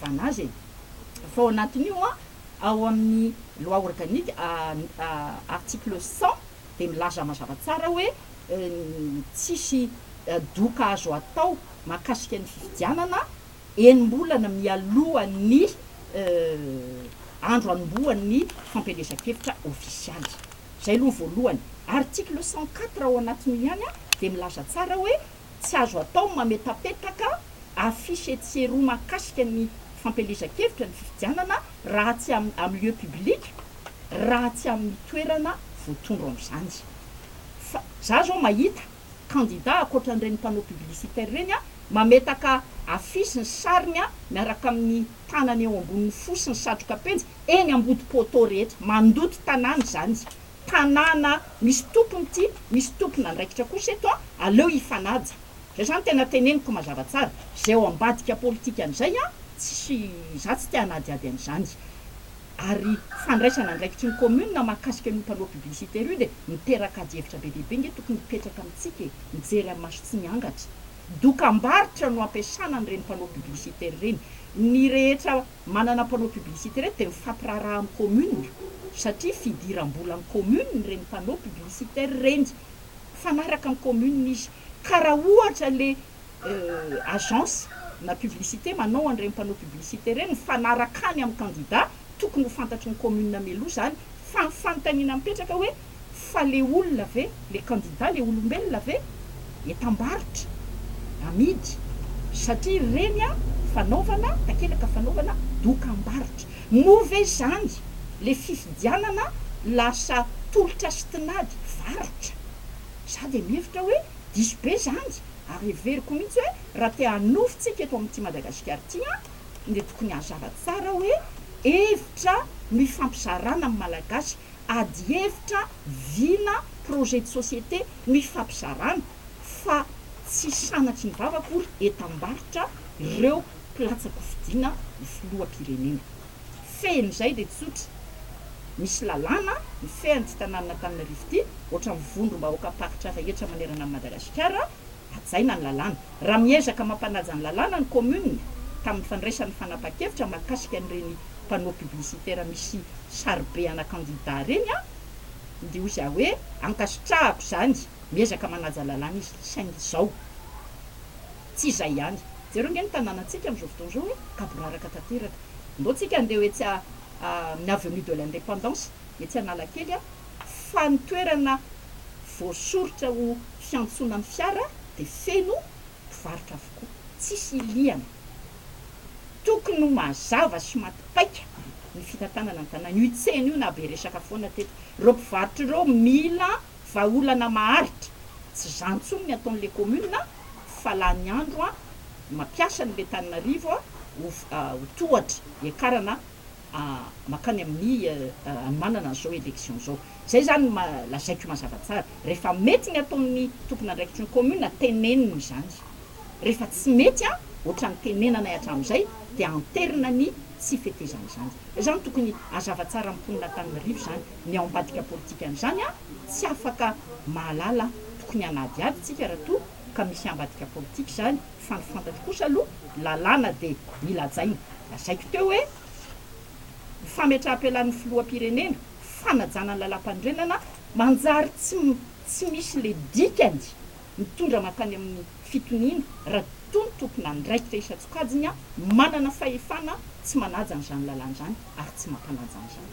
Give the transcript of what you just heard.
Banazy e! fa ao anatin'io an, ao amin'ny loi organique article cent dia milaza mazava tsara hoe tsisy doka azo atao mahakasika ny fifidianana enim-bolana mialoha ny andro anombohan'ny fampielezan-kevitra ofisialy. Izay aloha ny voalohany. Article cent quatre ao anatin'io ihany dia milaza tsara hoe tsy azo atao ny mametapetraka affiche etsy sy eroa mahakasika ny fampielezan-kevitra ny fifidianana raha tsy amin'ny lieu public, raha tsy amin'ny toerana voatondro amin'izany. Fa za zao mahita candidat ankoatra an'ireny panneau publicitaire ireny an, mametaka affiche ny sariny an, miaraka amin'ny tanany eo ambonin'ny fo sy ny satroka penjy eny ambody poteau rehetra. Mandoto tanàna izany. tanàna misy tompony ity, misy tompon'andraikitra kosa eto an, aleo hifanaja. Zay zany tena teneniko mazava tsara. Zay ao ambadika politika an'izay an, tsisy, za tsy te hanadihady an'izany. Ary fandraisana andraikitry ny commune mahakasika an'io panneau publicitaire io dia miteraka ady hevitra be dia be nge tokony hipetraka amintsika e, mijery amin'ny maso tsy miangatra. Dokambarotra no ampiasana an'ireny panneau publicitaire ireny. Ny rehetra Manana mpanao publicité reto dia mifampiraharaha amin'ny commune satria fidiram-bolan'ny commune ireny mpanao publicitaire ireny. Mifanaraka amin'ny commune izy. Ka raha ohatra ilay agence na publicité manao an'ireny mpanao publicité ireny mifanaraka any amin'ny candidat, tokony ho fantatry ny commune mialoha izany fa ny fanontaniana mipetraka hoe Fa le olona ve, le kandida le olombelona ve? Entam-barotra, amidy, satria ireny an, fanaovana takelaka fanaovana dokam-barotra. Moa ve izany le fifidianana lasa tolotra sy tinady varotra? Za dia mihevitra hoe diso be izany ary heveriko mihitsy hoe raha te hanovintsika eto amin'ity Madagasikara ity an, dia tokony hazava tsara hoe hevitra no hifampizarana amin'ny Malagasy ady hevitra vina projet de société no ifampizarana fa tsy sanatry ny vava akory entam-barotra reo mpilatsa-kofidina ny filoham-pirenena. Fehiny izay dia tsotra, misy lalàna mifehy an'ity tanànan'Antananarivo ity, ohatran'ny vondrom-bahoakam-paritra rehetra manerana an'i Madagasikara, hajaina ny lalàna. Raha miezaka mampanaja ny lalàna ny kaominina tamin'ny fandraisany fanapahan-kevitra mahakasika an'ireny panneau publicitaire misy saribe ana kandida ireny an, dia hoy za hoe ankasitrahako izany, miezaka manaja lalàna izy, saingy izao, tsy izay ihany. Jereo ange ny tanànantsika amin'izao fotoana izao hoe gaboraraka tanteraka. Ndao tsika andeha ho etsy amin'ny avenue de l'indépendance, etsy Analakely an, fa ny toerana voasoritra ho fiantsoana ny fiara dia feno mpivarotra avokoa, tsisy hilihana. Tokony ho mazava sy maty paika ny fitantanana ny tanàna. Io tsena io naha be resaka foana teto. Ireo mpivarotra ireo mila vahaolana maharitra. Tsy izany intsony ny ataon'ilay commune a, fa lany andro a, mampiasa an'ilay Tananarivo ho tohatra hiakarana. makany amin'ny hanomanana an'izao élection izao. Izay izany no lazaiko mazava tsara. Rehefa mety ny ataon'ny tompon'andraikitry ny commune, teneniny izany. Rehefa tsy mety an, ohatran'ny tenenanay hatramin'izay, dia anterina ny tsy fetezana izany. Izany tokony hazava tsara amin'ny mponin'Antananarivo izany. Ny ao ambadika politikan'izany an, tsy afaka mahalala tokony hanadihady isika raha toa ka misy ambadika politika izany. Fa ny fantatro kosa aloha lalàna dia mila hajaina. Lazaiko teo hoe ny fametraham-pialan'ny filoham-pirenena, fanajana ny lalàmpanorenana manjary tsy tsy misy le dikany mitondra mankany amin'ny fitoniana raha toa ny tompon'andraikitra isan-tsokajiny manana fahefana tsy manaja an'izany lalàna izany ary tsy mampanaja an'izany.